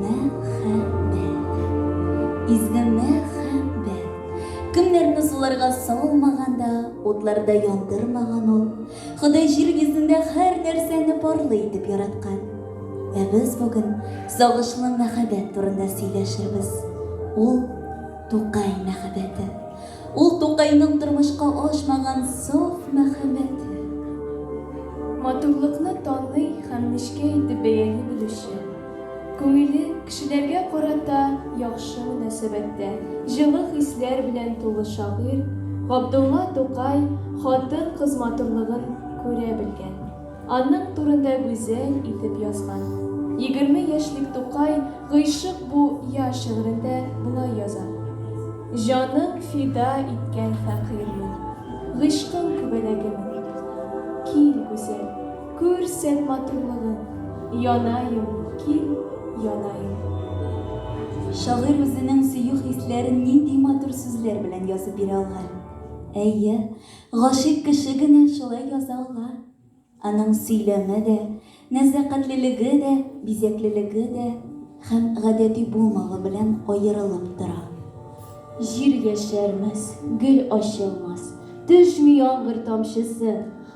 Мәхәббәт. Изге мәхәббәт. Кемнәрне суларга салмаган да, утларда яндырмаган ул. Ходай җир йөзендә һәр нәрсәне парлы итеп яраткан. Ә без бүген сагышлы мәхәббәт турында сөйләшербез. Ул, Тукай мәхәббәте. Ул, Тукайның тормышка ашмаган саф мәхәббәте. Матурлыкны таный һәм нечкә итеп бәяли белүче. Күңеле кешеләргә карата яхшы мөнәсәбәттә, җылы хисләр белән тулы шагыйрь Габдулла Тукай хатын-кыз матурлыгын күрә белгән, аның турында гүзәл итеп язган. Егерме яшьлек Тукай Гыйшык бу я шигырендә болай яза, Җанын фида иткән фәкыйрьмен, Гыйшкым күбәләгемен, кил, гүзәл! Күрсәт матурлыгың, янаем, кил, янаем. Шагыйрь үзенең сөю хисләрен нинди матур сүзләр белән язып бирә алган! Әйе, гашыйк кеше генә шулай яза ала. Аның сөйләме дә, нәзакәтлелеге дә, бизәклелеге дә һәм гадәти булмавы белән аерылып тора. Җир яшәрмәс, гөл ачылмас, Төшми яңгыр тамчысы.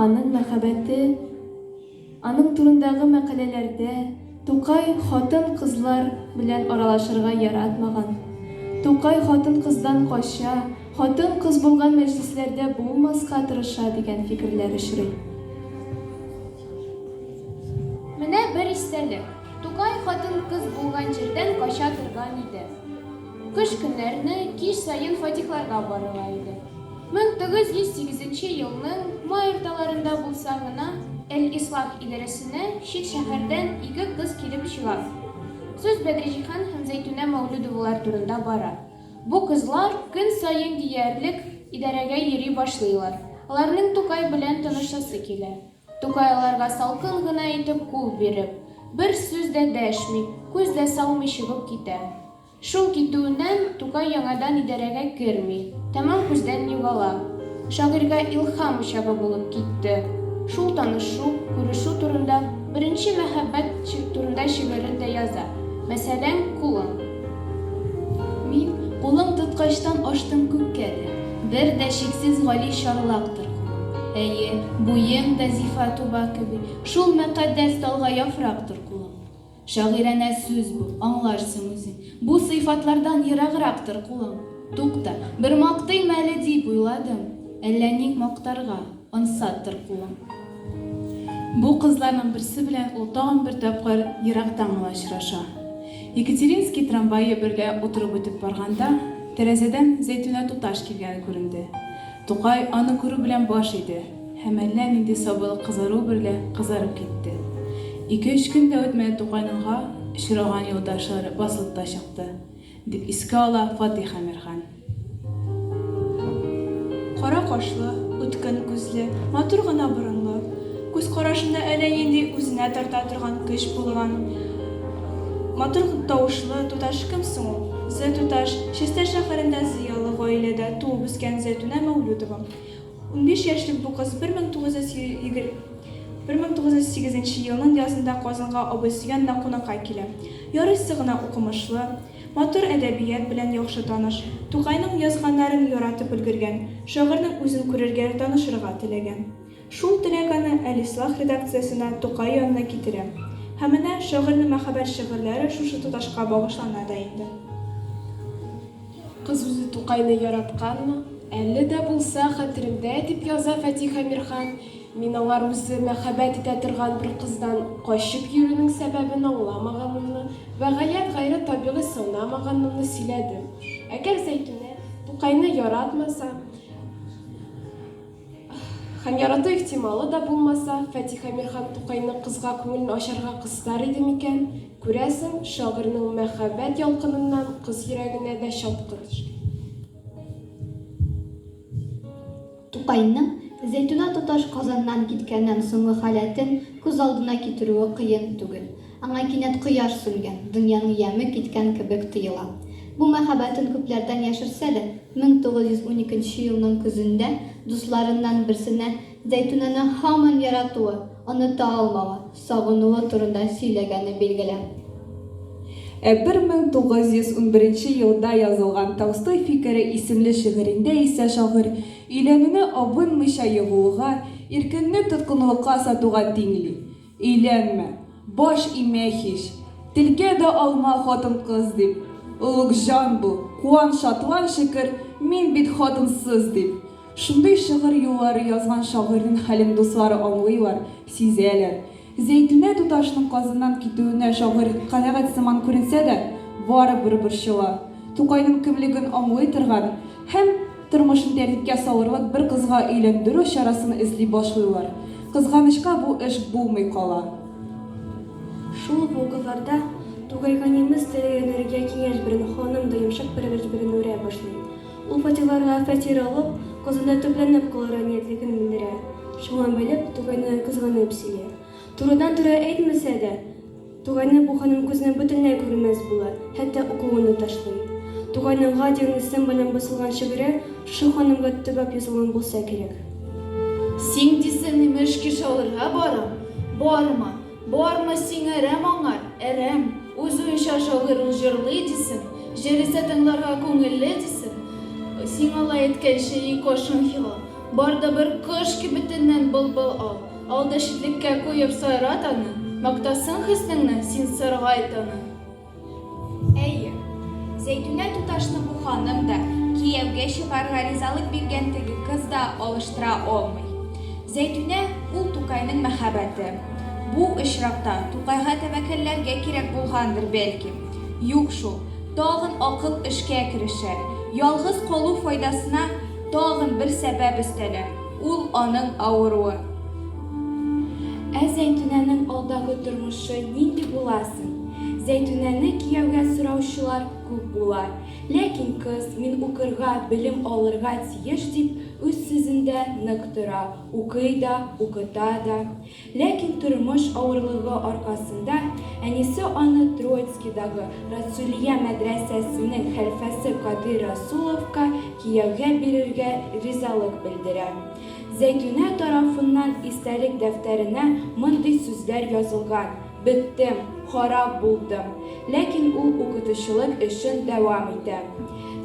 Аның мәхәббәте, аның турындагы мәкаләләрдә Тукай хатын-кызлар белән аралашырга яратмаган, Тукай хатын-кыздан кача, хатын-кыз булган мәҗлесләрдә булмаска тырыша дигән фикерләр очрый. Менә бер истәлек, Тукай хатын-кыз булган җирдән кача торган иде. Кыш көннәрне кич саен фатихларга барыла иде. Мең тугыз йөз сигезенче елның май урталарында булса гына, Әл-Ислах идарәсенә чит шәһәрдән ике кыз килеп чыга. Сүз Бәдриҗиһан һәм Зәйтүнә Мәүлүдовалар турында бара. Бу кызлар көн саен диярлек идарәгә йөри башлыйлар. Аларның Тукай белән таныштасы килә. Тукайларга салкын гына итеп кул биреп, бер сүз дә дәшми, күз дә салмый чыгып китә. Шул китүеннән Тукай яңадан идарәгә керми, тәмам күздән югала. Шагыйрьгә илһам учагы булып китте шул танышу, күрешү турында, беренче мәхәббәт турында шигырен дә яза, мәсәлән, Кулың. Мин, кулың тоткачтан аштым күккә дә. Бер дә чиксез гали чарлактыр кулың. Әйе, буең да зифа туба кеби, шул мөкатдәс талга яфрактыр кулың. Шагыйранә сүз бу, аңларсың үзең. Бу сыйфатлардан ераграктыр кулың. Тукта, бер мактыйм әле дип уйладым, әллә ник мактарга. Ансат тор кулың. Бу кызларның берсе белән ул тагын бер тапкыр ерактан гына очраша. Екатеринский трамвае берлә утырып үтеп барганда, тәрәзәдән Зәйтүнә туташ килгәне күренде. Тукай аны күрү белән баш иде һәм әллә нинди сабыйлык кызару берлә кызарып китте. Ике-өч көн дә үтмәде Тукайныңга очраган юлдашлары басылып та чыкты. Дип искә ала Фатыйх Әмирхан. Кара кашлы, үткен күзле, матур гына борынлы, күз карашында әллә нинди үзенә тарта торган көч булган, матур тавышлы туташ кем соң ул? Зэ туташ, Чистай шәһәрендә зыялы гаиләдә туып үскән Зәйтүнә Мәүлүдова. Унбиш яшьлек бу кыз бер мең тугыз йөз бер мең тугыз йөз сигезенче елның язында Казанга абыйсы янына кунакка килә. Ярыйсы гына укымышлы, матур әдәбият белән яхшы таныш, Тукайның язганнарын яратып өлгергән, шагыйрьнең үзен күрергә, танышырга теләгән. Шул теләк аны Әлислах редакциясенә, Тукай янына китерә. Һәм менә шагыйрьнең мәхәббәт шигырьләре шушы туташка багышлана да инде. Кыз үзе Тукайны яратканмы, әле дә булса хәтерендә, дип яза Фатих Әмирхан. Мин аңар үзе мәхәббәт итә торган бер кыздан качып йөрүнең сәбәбен аңламаганымны вә гаять гайре табигый санамаганымны сөйләдем. Әгәр Зәйтүнә Тукайны яратмаса, Һәм ярату ихтималы да булмаса, Фатих Әмирхан Тукайның кызга күңелен ачарга кыстар иде микән? Күрәсең, шагыйрьнең мәхәббәт ялкыныннан кыз йөрәгенә дә чаткы төшкән. Тукайның Зәйтүнә туташ Казаннан киткәннән соңгы халәтен күз алдына китерүе кыен түгел. Аңа кинәт кояш сүнгән, дөньяның яме киткән кебек тоела. Бу мәхәббәтен күпләрдән яшерсә дә, 1912 елның көзендә дусларыннан берсенә Зәйтүнәне һаман яратуы, оныта алмавы, сагынуы турында сөйләгәне билгеле. Ә 1911 елда язылган Толстой фикере исемле шигырендә исә шагыйрь өйләнүне абынмыйча егылуга, иркеңне тоткынлыкка сатуга тиңли. Өйләнмә, баш имә һич. Телгә дә алма хатын-кыз дип. Олугҗан бу, куан, шатлан, шөкер, мин бит хатынсыз дип. Шундый шыгырь юллары язган шагыйрьнең хәлен дуслары аңлыйлар, сизәләр. Зәйтүнә туташының Казаннан китүенә шагыйрь канәгать сыман күренсә дә, барыбер борчыла. Тукайның кемлеген аңлый торган, Һәм тормышын тәртипкә салырлык бер кызга өйләндерү чарасын эзли башлыйлар. Кызганычка, бу эш булмый кала. Шул ук вакытларда тугайганимыз тереләнергә киңәш биргән ханым да йомшак пәрвәреш белән үрә башлый. Ул фатирларга фатир алып, кызында төпләнеп калырга ниятлеген белдерә. Шуңа бәйле, тугайны кызганып сөйли. Турыдан-туры әйтмәсә дә. Тугайны бу ханым күзенә бөтенләй күренмәс була, хәтта укуын да ташлый. Тугайның га дигән исем белән басылган шигыре шушы ханымга төбәп язылган булса кирәк. Син дисең, имеш, кеше алырга барам. Барма, барма, сиңа әрәм аңар, әрәм. Үз уенча шагыйрь ул җырлый, дисең. Җыр исә тыңларга күңелле, дисең. Сиңа алай әйткәнче, и кошын хилал. Барды бер кош кибетеннән былбыл ал, Алды читлеккә куеп сайрат аны, Мактасын хөснеңне, син саргайт аны. Әйе. Зәйтүнә туташны бу ханым да, кияүгә чыгарга ризалык биргән теге кыз да алыштыра алмый. Зәйтүнә, ул Тукайның мәхәббәте. Бу очракта Тукайга тәвәккәлләргә кирәк булгандыр, бәлки. Юк шул. Тагын акыл эшкә керешә. Ялгыз калу файдасына Тагын бер сәбәп өстәлә, ул аның авыруы. Ә Зәйтүнәнең алдагы тормышы нинди була соң? Зәйтүнәне кияүгә сораучылар күп була. Ләкин кыз, мин укырга, белем алырга тиеш дип, үз сүзендә нык тора, укый да, укыта да. Ләкин тормыш авырлыгы аркасында әнисе аны Троицкидагы Расулия мәдрәсәсенең хәлфәсе Кадыйр Расуловка кияүгә бирергә ризалык белдерә. Зәйтүнә тарафыннан истәлек дәфтәренә мондый сүзләр язылган, Беттем, харап булдым. Ләкин ул укытучылык эшен дәвам итә.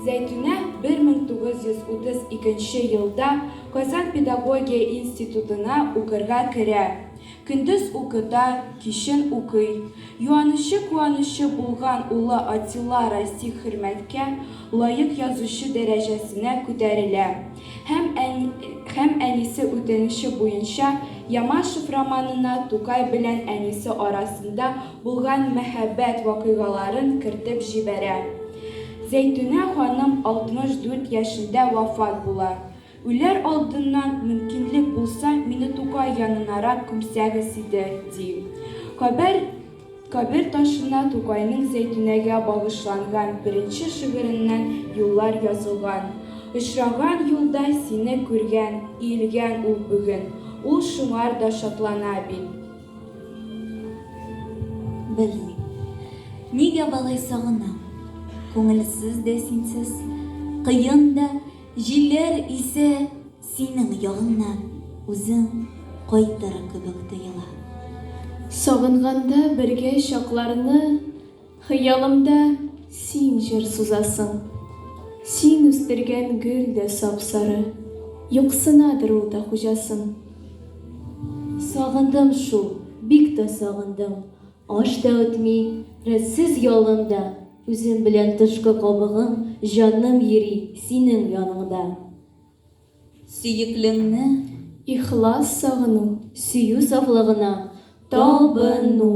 Зәйтүнә 1932 елда Казан педагогия институтына укырга керә. Көндез укыта, кичен укый. Юанычы-куанычы булган улы Атилла Расих хөрмәткә лаек язучы дәрәҗәсенә күтәрелә һәм һәм әнисе үтенече буенча Ямашев романына Тукай белән әнисе арасында булган мәхәббәт вакыйгаларын кертеп җибәрә. Зәйтүнә ханым 64 яшендә вафат була. Үләр алдыннан, мөмкинлек булса, мине Тукай янынарак күмсәгез иде, ди. Кабер кабер ташына Тукайның Зәйтүнәгә багышланган беренче шигыреннән юллар язылган, Очраган юлда сине күргән, иелгән ул бүген, ул шуңар да шатлана бит. Белмим, нигә болай сагынам, Күңелсез дә, синсез кыен да. Җилләр исә синең ягыңнан үзең кайтыр кебек тоела. Сагынганда бергә чакларны Хыялымда син җыр сузасың. Син үстергән гөл дә сап-сары, Юксынадыр ул да хуҗасын. Сагындым шул, бик тә сагындым. Аш та үтми, рәтсез ялым да. Үзем белән тышкы кабыгым, Җаным йөри синең яныңда. Сөеклеңне ихлас сагыну. Сөю сафлыгына табыну.